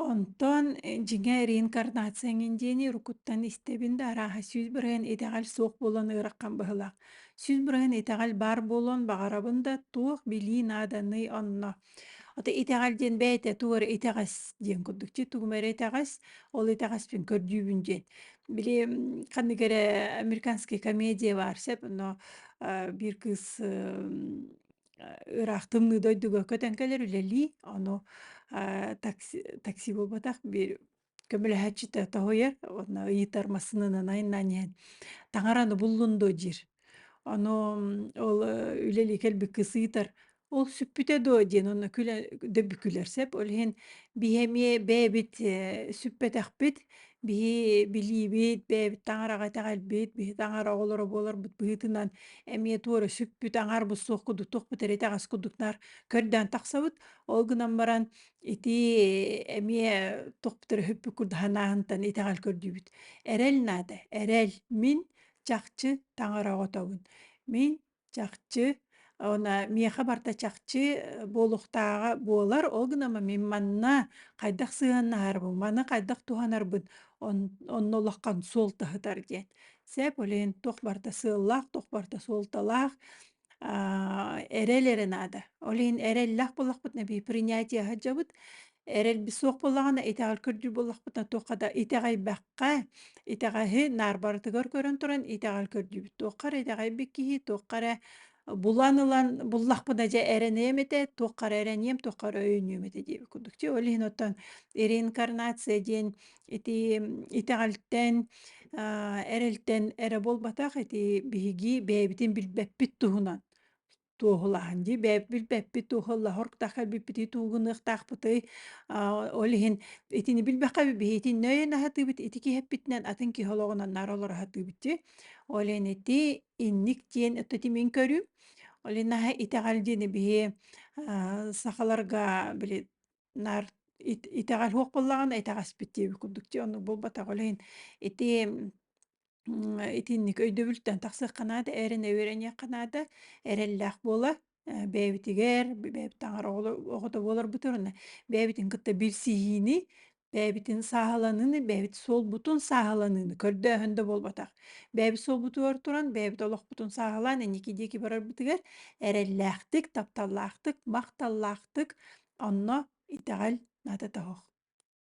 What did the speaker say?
Онтон э, дьиҥэ реинкарнация эҥин диэни уруккуттан истэбин да арааһа сүүс бырайын итэҕэл суох буолан ыараххан быһылаах. Сүүс бырайын итэҕэл баар буолуон баҕарабын да, туох билии нааданый онно. Ото итэҕэл диэн бэйэтэ тугу эрэ итэҕэс диэн курдук. Чи тугум эрэ итэҕэс, ол итэҕэспин көрдүүбүн диэн. Били м, ханнык эрэ американская комедия баар, сөп, но э, биир кыыс э, ыраах тымныы дойдуга көтөн кэлэр үлэлии, ону такси такси буолбатах бир көмөлөһөөччүтэ тоһуйар уонна ыйытар массыынанан айаннаан иһэн таҥараны буллун дуо диир. Ону ол үлэлии кэлбит кыс ыйытар ол сүппүтэ дуо диэн уонна күлэ дөбү күлэр сеп ол иһин биһи эмиэ бэйэбит сүппэтэхпит Биһи билиибит, бэйэбит таҥараҕа итэҕэлбит, биһи таҥара оҕолоро буоларбыт быһыытынан эмиэ туора сүкпүт, аҥаарбыт суох кудук туохпут эрэ итэҕэс кудук наар көрдөөн тахсабыт. Ол гынан баран ити эмиэ туохпут эрэ хүппүк курдук санааһынтан итэҕэл көрдүүбүт. Эрэл наада, эрэл. Мин чахчы таҥара оҕотобун. Мин чахчы она миэхэ барта чахчы буолуохтааҕа буолар ол гынан мин манна хайдах сыһыаннаһарбын маны хайдах туһанарбын он онно улахан суол таһытар диэн сеп блин туох барта сыаллаах туох барта суолталаах аа эрэл эрэ наада ол иһин эрэллээх буоллахпытына бии принятие сылдьабыт эрэлбит суох буоллаҕына итэҕэл көрдүүр буоллахпытына туохха да итэҕэйбэххэ итэҕэһи наар барытыгар көрөн туран итэҕэл көрдүүбүт туохха эрэ итэҕэйбит киһи туохха эрэ булан ылан буллахпына дьэ эрэниэм этэ туохха эрэ эрэниэм туохха эрэ өйүнүөм этэ диэбит курдук чэ ол иһин оттон реинкарнация диэн ити итэҕэлтэн эрэлтэн эрэ буолбатах ити биһиги бэйэбитин билбэппит туһунан туоһулаһан дии билбэппит туоһуллаһорк таха биппити туугунуохтаахпытый ол иһин итини билбэххэ биһитин нөйөн аһатыыбыт ити киһэппитинэн атын киһи олоҕунан наар олор аһатыыбытчи ол ин ити инник диэн өттө тимин көрүм ол инаһа итэҕэл диэни биһи сахаларга били Нар итэҕэл суох буоллаҕына итэҕэспит диэбит курдук дии оннук буолбатах ол иһин ити итинник өйдөбүлтэн тахсыахха наада эрэн үөрэниэххэ наада эрэллээх буола бэйэбитигэр бэйэбит таҥар оҕоло оҕото буоларбытын бэйэбитин кытта билсиһиини бэйэбитин сааһыланыыны бэйэбит суолбутун сааһыланыыны көрдөөһөн да буолбатах Бэйэбит суолбутугар туран, бэйэбит олохпутун сааһылаан инники диэки барарбытыгар эрэллээхтик, тапталлаахтык, махталлаахтык, онно итэҕэл ната тоһох.